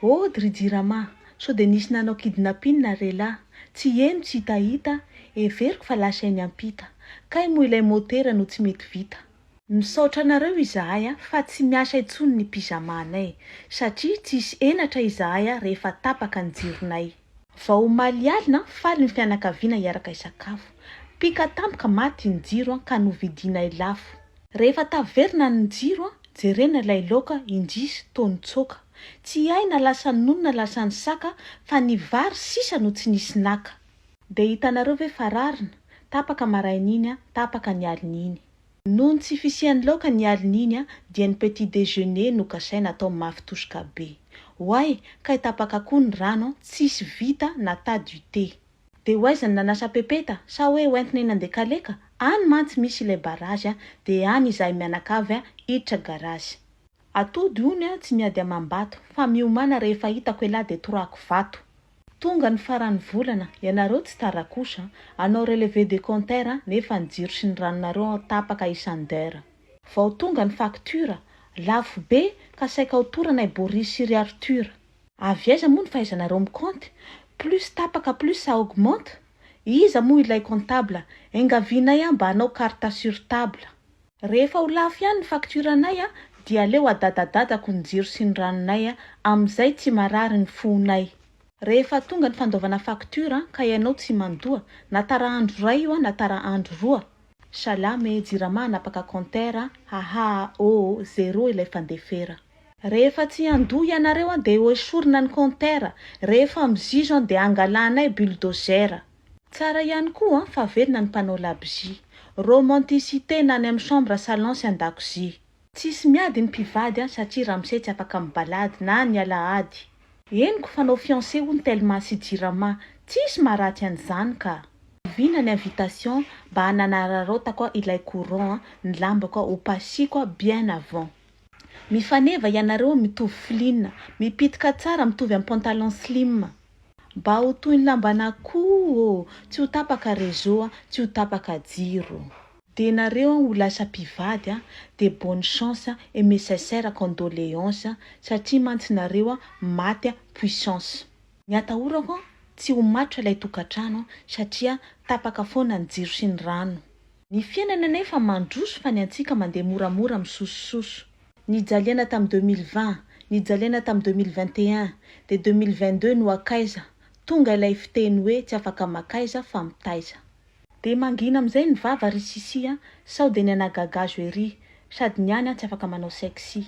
Oh dry jirama, sao dia nisy nanao kidnapping nareo elah, tsy heno tsy hitahita, heveriko fa lasa eny ampita, kay moa ilay motera no tsy mety vita. Misaotra anareo izahay a fa tsy miasa intsony ny pyjama anay satria tsisy henatra izahay a rehefa tapaka ny jironay. Vao omaly alina, faly ny fianakaviana hiaraka hisakafo. Pika tampoka maty ny jiro ka novidianay lafo. Rehefa taverina ny jiro, jerena ilay laoka, indrisy, toa nitsoaka. Tsy hay na lasa nony na lasa ny saka fa ny vary sisa no tsy nisy naka. Dia hitanareo ve fa rarina? Tapaka maraina iny, tapaka ny alina iny. Noho ny tsy fisian'ny laoka ny alin'iny dia ny petit déjeuner no kasaina atao mafy tosoka be. Oay, kay tapaka koa ny rano an, tsisy vita na tas du thé. Dia ho aiza ny nanasa pepeta sa hoe ho entina eny Andekaleka? Any mantsy misy ilay barazy dia any izahay mianakavy hiditra garazy. Atody ony aho tsy miady amam-bato fa miomana rehefa hitako elah dia torako vato. Tonga ny faran'ny volana, ianareo tsy tara kosa, hanao relevé de compteur nefa ny jiro sy ny ranonareo tapaka isan d'heure. Vao tonga ny facture, lafo be ka saika ho torana i Boris sy ry Arthur. Avy aiza moa ny fahaizanareo mi-compte? Plus tapaka plus ça augmente? Iza moa ilay comptable? Enga vianay aho mba hanao carte sur table. Rehefa ho lafo ihany ny facture anay dia aleo adadadadako ny jiro sy ny ranonay amin'izay tsy marary ny fonay. Rehefa tonga ny fandoavana facture ka ianao tsy mandoa, na tara andro iray io na tara andro roa. Salama e, jirama hanapaka compteur, hahaa oo, zero ilay fandefera. Rehefa tsy handoa ianareo dia hoesorina ny compteur, rehefa mizizo dia hangalanay bulldozer. Tsara ihany koa fa velona ny mpanao labozia. Romanticité na any amin'ny chambre salon sy an-dakozia. Tsisy miady ny mpivady an satria ramose tsy afaka mibalady na ny alahady. Henoko fa anao fiancé hono telma sy jirama, tsisy maharatsy an'izany ka. Oviana ny invitation mba hanararaotako ilay courant ny lambako hopasiko bien avant. Mifaneva ianareo mitovy flin, mipitika tsara mitovy am pantalon slim. Mba ho toy ny lamban'akoho ô, tsy ho tapaka réseau a, tsy ho tapaka jiro. Dia nareo an ho lasa mpivady an dia bonne chance an et mes sincères condoléances an satria mantsy nareo an maty an puissance. Ny atahorako an tsy ho matotra ilay tokantrano an satria tapaka foana ny jiro sy ny rano. Ny fiainana anefa mandroso fa ny antsika mandeha moramora misosososo. Nijaliana tamin'ny deux mille vingt, nijaliana tamin'ny deux mille vingt et un, dia deux mille vingt deux no hakaiza, tonga ilay fiteny hoe tsy afaka makaiza fa mitaiza. Dia mangina amin'izay ny vava ry Sissi a, sao dia ny anà gagazo ery, sady ny any an tsy afaka manao sexy.